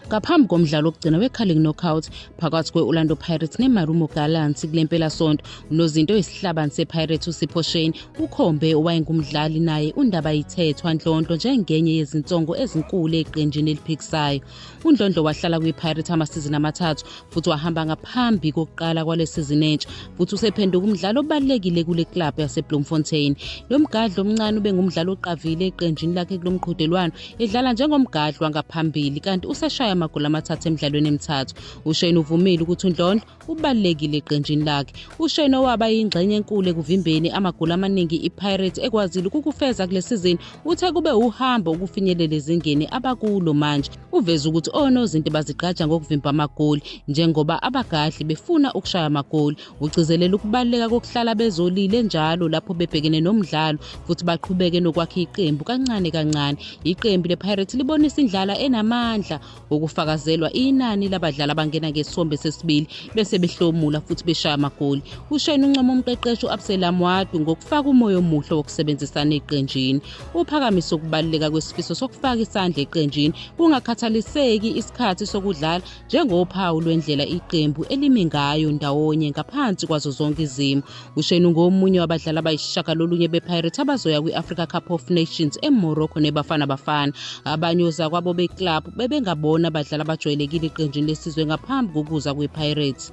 ngaphambi komdlalo wokugcina we-carling knockout phakathi kwe-orlando pirates nemarumo gallants kule mpelasonto unozinto oyisihlabani sepirates usipho shane ukhombe owayengumdlali naye undaba yithethwa nhlonhlo njengenye yezinsongo ezinkulu eqenjini eliphikisayo UNdlondlo wahlala kwiPirates amasizini amathathu futhi wahamba ngaphambi kokuqala kwale sizini entsha futhi usephenduka umdlali obalulekile kule club yaseBloemfontein. Lo mgadli omncane ube ngumdlali oqavile eqenjini lakhe kulo mqhudelwano edlala njengomgadli wangaphambili kanti useshaye amagoli amathathu emidlalweni emithathu. UShane uvumile ukuthi uNdlondlo ubalulekile eqenjini lakhe usheno waba yingxenye enkulu ekuvimbeni amagoli amaningi ipirates ekwazile ukukufeza kule sizini uthe kube uhambo ukufinyelela ezingeni abakulo manje uveze ukuthi onozinti bazigqaja ngokuvimba amagoli njengoba abagadli befuna ukushaya amagoli ugcizelela ukubaluleka kokuhlala bezolile njalo lapho bebhekene nomdlalo futhi baqhubeke nokwakha iqembu kancane kancane iqembu lepirates libonisa indlala enamandla ukufakazelwa inani labadlali abangena ngesombe sesibili bese behlomula futhi beshaya amagoli ushayina uncoma umqeqeshi u-abselam wadu ngokufaka umoya omuhle wokusebenzisana eqenjini uphakamise ukubaluleka kwesifiso sokufaka isandla eqenjini kungakhathaliseki isikhathi sokudlala njengophawu lwendlela iqembu elimi ngayo ndawonye ngaphansi kwazo zonke izimo ushane ungomunye wabadlali abayisishagalolunye bepirates abazoya kwi-africa cup of nations emorocco nebafana bafana abanye ozakwabo beclub bebengabona abadlali abajwayelekile eqenjini lesizwe ngaphambi kokuza kwepirates